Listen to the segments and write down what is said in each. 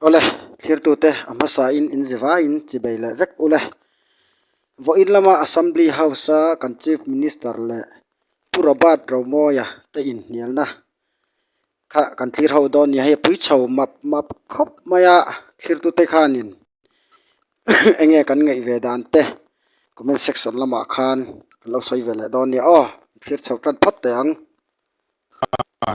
Awle, thlirtute a hmasain in zi vai in chi bei leh vek ule. Vawiin lama Assembly House a kan Chief Minister leh Pu Robert Raumoia te inhnialna kha kan thlir ho dawn nia hei a pui chho map map khawp mai a, thlirtute khanin eng nge kan ngaih ve dan te comment section lamah khan kan lo sawi ve leh dawn nia aw, thlir chho tan phawt te ang. a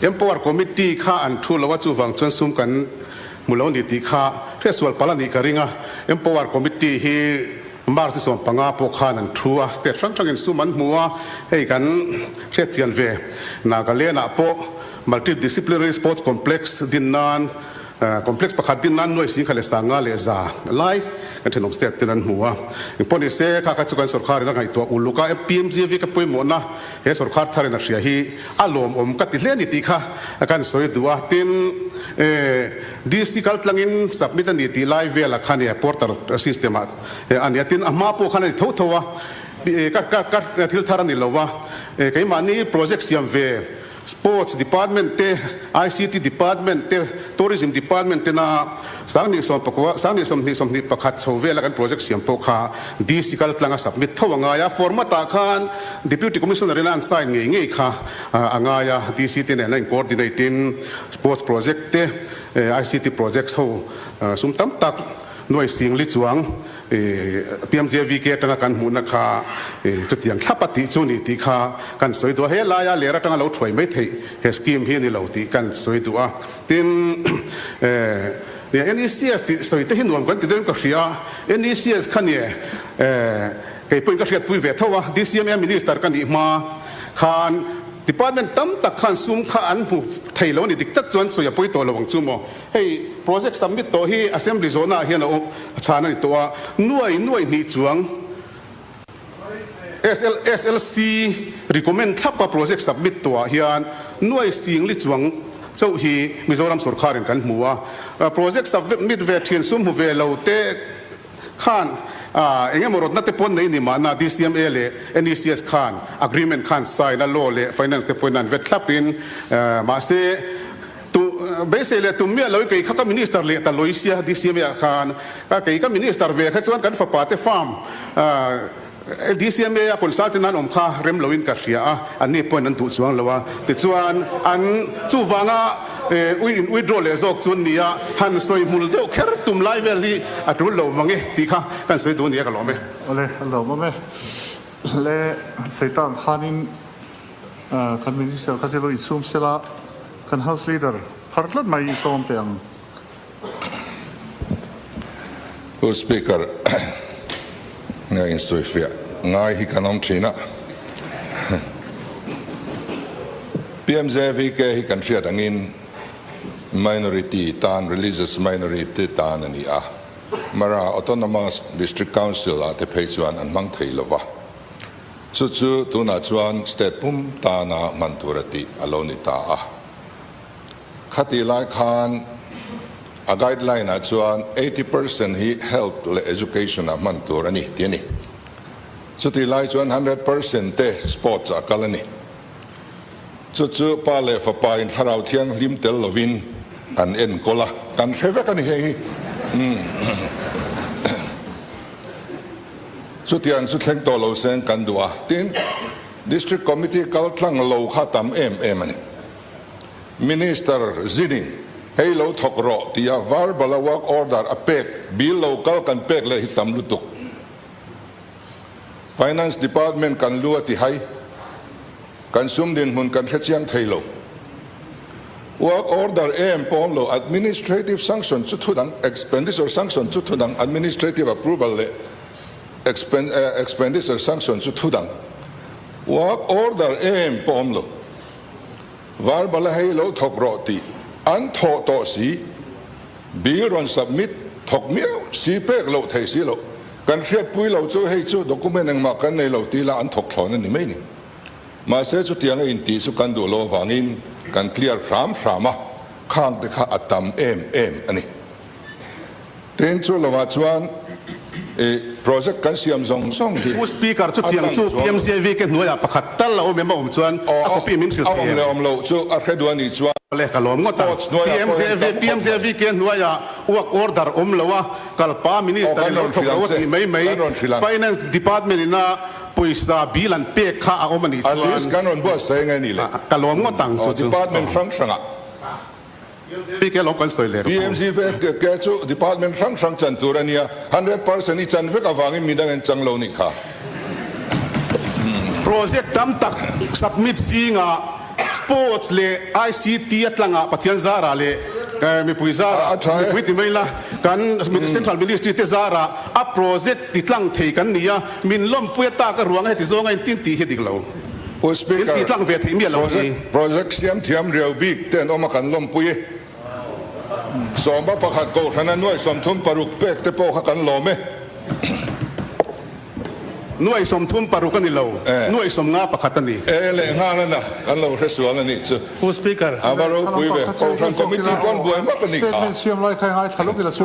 Empower Committee kha an thu lo a, chuvang chuan sum kan hmu lo ni tih kha hre sual pal a nih ka ring a, Empower Committee hi March ni sawm panga pawh khan an thu a, state hrang hrangin sum an hmu a, hei kan hriatchian ve Nagaland-ah pawh Multidisciplinary Sports Complex din nan Complex pakhat din nan nuai si kha le sanga leh za lai kan thenawm state ten an hmu a. Eng pawh ni se kha kha chu kan sorkar in a ngaihtuah uluk a MPMGV ka pawimawhna he sorkar thar in a hria hi a lawm awm ka ti hle ni tih kha kan sawi duh a. Tin, DC kal tlang in submit a ni tih lai vel a khan portal system ah a ni a tin a hma pawh khan a ni tho tho a ka thil thar a ni lo a keimahni project siam ve Sports Department te, ICT Department te, Tourism Department te na Sang ni sawm pakua, Sang ni sawmhnih sawmhnih pakhat chho vela kan project siam pawh kha DC kal tlanga submit tho a ngai a, format ah khan Deputy Commissioner ina an sign ngei ngei kha a ngai a, DC te nena in coordinate in Sports project te, ICT projects ho sum tam tak nuaising li chuang I piamzia VK atanga kan hmuhna kha i chutiang thlap a tih chu ni tih kha kan sawi duh a, he laia ler atanga lo thuai mai theih he scheme hi a ni lo tih kan sawi duh a. Tin, NECS tih sawi te hi nuam kan ti dawn ka hria, NECS kha nia e, kei pawhin ka hriat pui ve tho a, DCMA Minister ka nih hma khan Department tam tak khan sum kha an hmu thei lo a ni dik tak chuan sawi a pawi tawh lo ang chu maw? Hei project submit tawh hi Assembly zawnah hian a chhan a ni tawh a, nuai nuai hnih chuang SLC recommend thlapa project submit tawhah hian nuai sing li chuang chauh hi Mizoram sorkar in kan hmu a, project submit ve thin sum hmu ve lo te, khan eng emaw rawtna te pawn nei ni mahna DCMA leh NECS khan agreement khan sign a law leh finance te pawhin a an vet thlap in mahse beisei leh tum miah loin kei kha ka minister leh ta lawisia DCMA ah khan kei ka minister ve kha chuan kan fapa te farm DCMA-a concern ten an awm kha rem lo in ka hria a, an ni point an duh chuang lo a, tichuan an chuvanga withdraw leh zawk chu nia han sawi hmul deuh kher tum lai vel hi a tul lo mang e tih kha ka han sawi dun nia ka lawm e. Awle a lawm awm e. Hle Seitan khanin kan minister kha chi lo i chhum sela kan house leader phar tlat mai i sawm te ang. U Speaker, nge insuihfiah ngai hi kan awm thin a, PMJAVK hi kan hriat angin minority tan, religious minority tan a ni a, Mara Autonomous District Council ah te phei chuan an hmang thei lova, chu chu tunah chuan state pum tana hman tur a tih a lo ni ta a. Khati lai khan a guideline ah chuan eighty percent hi health leh education ah hman tur a ni tih a ni. Chuti lai chuan hundred percent te sports ah a kal a ni. Chu chu pa leh fapa in thlarau thianghlim tel lovin an enkawl a, kan hre vek a ni hei hi. Chutia an su thleng tawh lo se an kan duh a, tin District Committee kal tlang lo kha a tam em em a ni. Minister Zining, Hei lo thawk rawh tia var bala work order a pek bil lo kal kan pek leh hi tam lutuk. Finance Department kan lu a ti hai, kan sum dinhmun kan hre chiang thei lo. Work order em pawm lo administrative sanction chu thudang expenditure sanction chu thudang administrative approval leh expenditure sanction chu thudang work order em pawm lo. Var bala hei lo thawk rawh tih an thawh tawh si. Bill rawn submit thawk miau si pek loh thei si loh. Kan hriatpui lo chu hei chu document engmah kan nei lo tih ila an thawk thlawn a ni mai ni. Mahse chutiang a intih chu kan duh lo avangin kan clear hram hram a, khangte kha a tam em em a ni. Tin, chu lawmah chuan i project kan siam zawng zawng hi. U Speaker, chutiang chu PMGIVK hnuaiah pakhat tal a awm em a awm chuan a copy min thil thei em? Awm leh awm loh chu a hreduai ni chuan. Awle, ka lawm ngawt a. PMGIVK hnuaiah work order awm lo a, kalpa Minister in lo thawk lo a tih mai mai. Finance Department in a pawisa bil an pek kha a awm a nih chuan. Ka lawm ngawt ang chu chu. PMGFAKK chu department hrang hrang chan tur a nia, hundred percent i chan vek avangin min a ngenchang lo nih kha. Project tam tak submit zingah sports leh ICT a tlangah Pathian zarah leh mipui zarah, mipui ti mai la, kan central ministry te zarah a project ti tlang thei kan ni a, min lawmpui a tak a ruang a heti zawnga intin tih hi a dik lo. Speaker, Project Siamthiam riau bik te an awm a kan lawmpui e. Sawma pakhat Kohhran a nuai sawmthum paruk pek te pawh kha kan lawm e. Nuai sawmthum paruk a ni lo, nuai sawmnga pakhat a ni. E leh nghal a na, kan lo hre sual a nih chu. Speaker, Kohhran Committee pawh an buai mak a ni kha.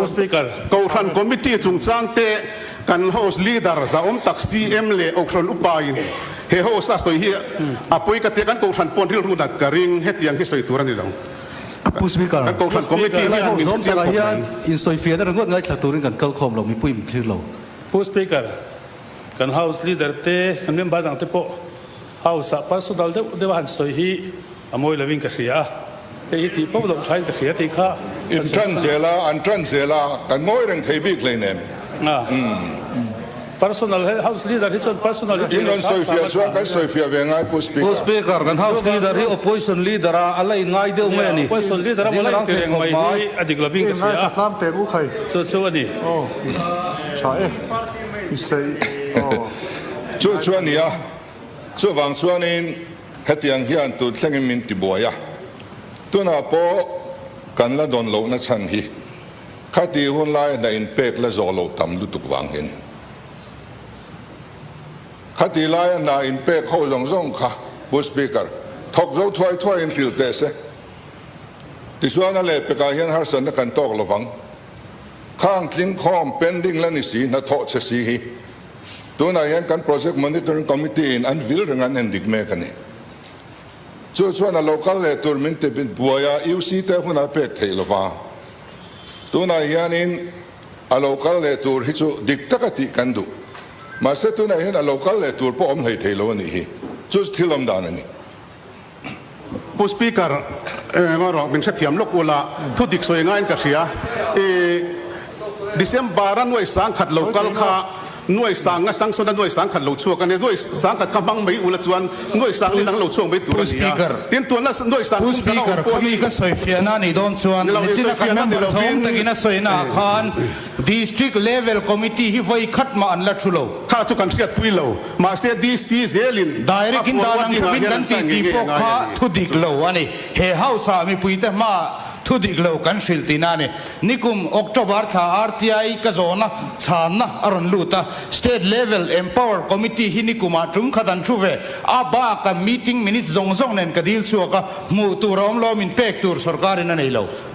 Speaker, Kohhran Committee chungchang te. Kan host leader Zaawm Tak CM leh Ohron upa in he host a sawi hi a pawi ka tia kan Kohhran pawn rilru nat ka ring hetiang hi sawi tur a ni lo. Apu speaker, kan Kohhran committee hi an min thu chiang khawp mai. Insawifian a ringawt ngai thla turin kan kal khawm lo mipui min thlir lo. Apu speaker, kan house leader te kan member dangte pawh. House ah parsu dal deuh deuh a han sawi hi a mawi lovin ka hria a, hei hi tih fo loh thain ka hria thei kha ka sawi an zel a, an tan zel a, kan mawi reng thei bik hlei nen umm. Personal he house leader hi chuan personal hi tih lo thar fam a tha kan sawi fiah ve ngai pu speaker. Pu speaker kan house leader hi opposition leader a a la in ngai deuh mai a ni, opposition leader a la in ti reng mai hi a dik lovin ka hria a, chu chu a ni. Chu chu a ni a. Chuvang chuanin hetiang hian tut thlengin min ti buai a, tunah pawh kan la dawn lohna chhan hi khati hun lai hnah in pek la zawh lo tam lutuk vang hian in khati laia hna in pek ho zawng zawng kha Pu Speaker thawk zo thuai thuai in hril teh se tichuan a leh pekah hian harsatna kan tawk lovang, khang tling khawm pending la ni si hnathawh chhe si hi. Tunah hian kan Project Monitoring Committee in an vil reng an en dik mek a ni. Chu chuan a lo kal leh tur min ti buai a, UC te hunah pek theih lo va. Tunah hianin a lo kal leh tur hi chu dik taka tih kan duh. Mahse tunah hian a lo kal leh tur pawh awm hlei theih lo a nih hi. Chu chu thil lawm dan a ni. Pu Speaker, eng a rawh min hrethiam lawk ula thu dik sawi ngaiin ka hria. I December a nuai sang khat lo kal kha nuai sang a sanction a nuai sang khat lo chhuak a nia. Nuai sang khat kha hmang mai ula chuan nuai sang inang lo chhuak mai tur a nia. Tin tuan la nuai sang tum chang a awm pawh hi. Pu Speaker, khami ka sawi fiahna a nih dawn chuan Nichina kan member zawng takin a sawi naah khan, District level committee hi vawi khat mah an la thu lo. Kha chu kan hriat pui lo, mahse DC zel in a fuarua dingah hian an sawi ngei ngei a ngai a ni. Thu dik lo a ni, he house ah mipui te hma ah thu dik lo kan hrilh ti na a ni. Nikum October thla RTI ka zawn a chhan na a rawn lut a, state level empower committee hi nikum ah tum khat an thu ve, a bak a meeting minutes zawng zawng nen ka dil chhuak a, hmuh tur a awm lo a min pek tur sorkar in a nei lo.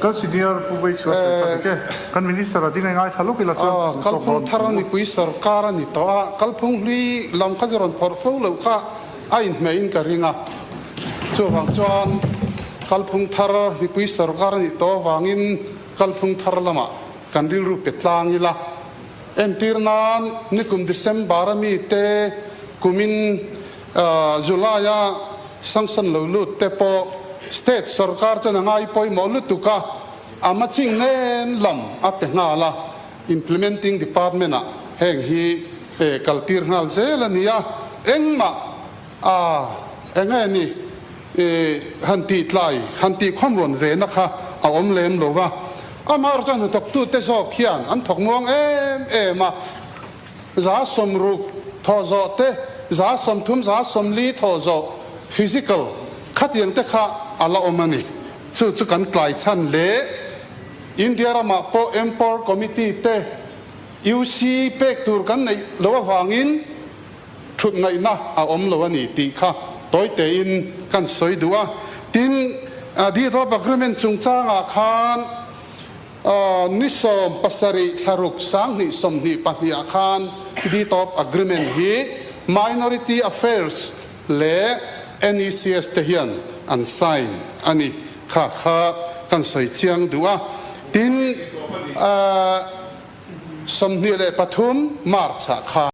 Kal senior Pu Veichua Serpa te che kan minister a dingai ngaithla lawk ila chuan an sawk dawn thung a. Nipui sawrkar a ni tawh a, kalphung hlui lam kha chu rawn phawrh fo loh kha a inhmeh in ka ring a, chuvang chuan kalphung thar nipui sawrkar a nih tawh avangin kalphung thar lamah kan rilru pe tlang ila, entir nan nikum December a mite kumin July-a sanction lo lut te pawh state sawrkar chuan a ngai pawimawh lutuk a, a maching nen lam a pe nghal a, implementing department-ah heng hi kal tir nghal zel a ni a, engmah a eng nge ni han tih tlai, han tih khawmruan vena kha a awm lem lo va, amaherawhchuan hnathawktute zawk hian an thawknuang em em a. za sawm ruk thawh zawh te, za sawm thum, za sawm li thawh zawh, physical, khatiang te kha a la awm a ni. Chu chu kan tlai chhan hle. India ramah pawh Empower Committee te, UC pek tur kan neih loh avangin thutngaihna a awm lo a ni tih kha tawi tein kan sawi duh a. Tin, Deed of Agreement chungchangah khan Ni sawm pasarih thlaruk sanghnih sawmhnih pahniha khan Deed of Agreement hi Minority Affairs leh NECS te hian an sign a ni kha kha kan sawi chiang duh a. Tin, sawmhnih leh pathum March ah khan.